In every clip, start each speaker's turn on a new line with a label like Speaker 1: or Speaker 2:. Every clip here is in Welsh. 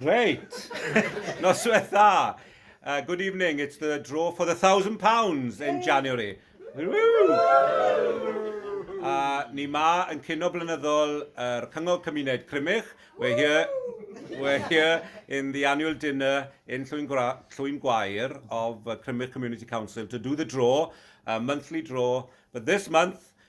Speaker 1: Reit! Noswaith dda! Uh, good evening, it's the draw for the thousand pounds in January. Uh, ni ma yn cynno blynyddol yr er Cyngor Cymuned Crymych. We're here, we're here in the annual dinner in Llwyn, Gra Llwyn Gwair of uh, Crymych Community Council to do the draw, a monthly draw. But this month,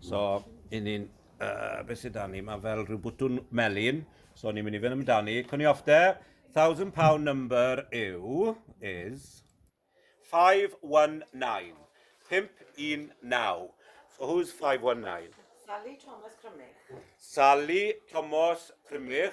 Speaker 1: So, i ni'n... Uh, beth sydd dan ni? Mae fel rhyw bwtwn melun. So, ni'n mynd i fynd amdani. Cwni off de. Thousand pound number yw, is, 519. 519. So who's 519? Sally Thomas
Speaker 2: Crymych. Sally
Speaker 1: Thomas Crymych.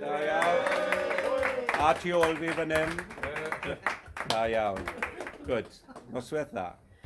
Speaker 1: Da iawn. A tu ôl fi fan hyn. Da iawn. Good. Noswaith dda.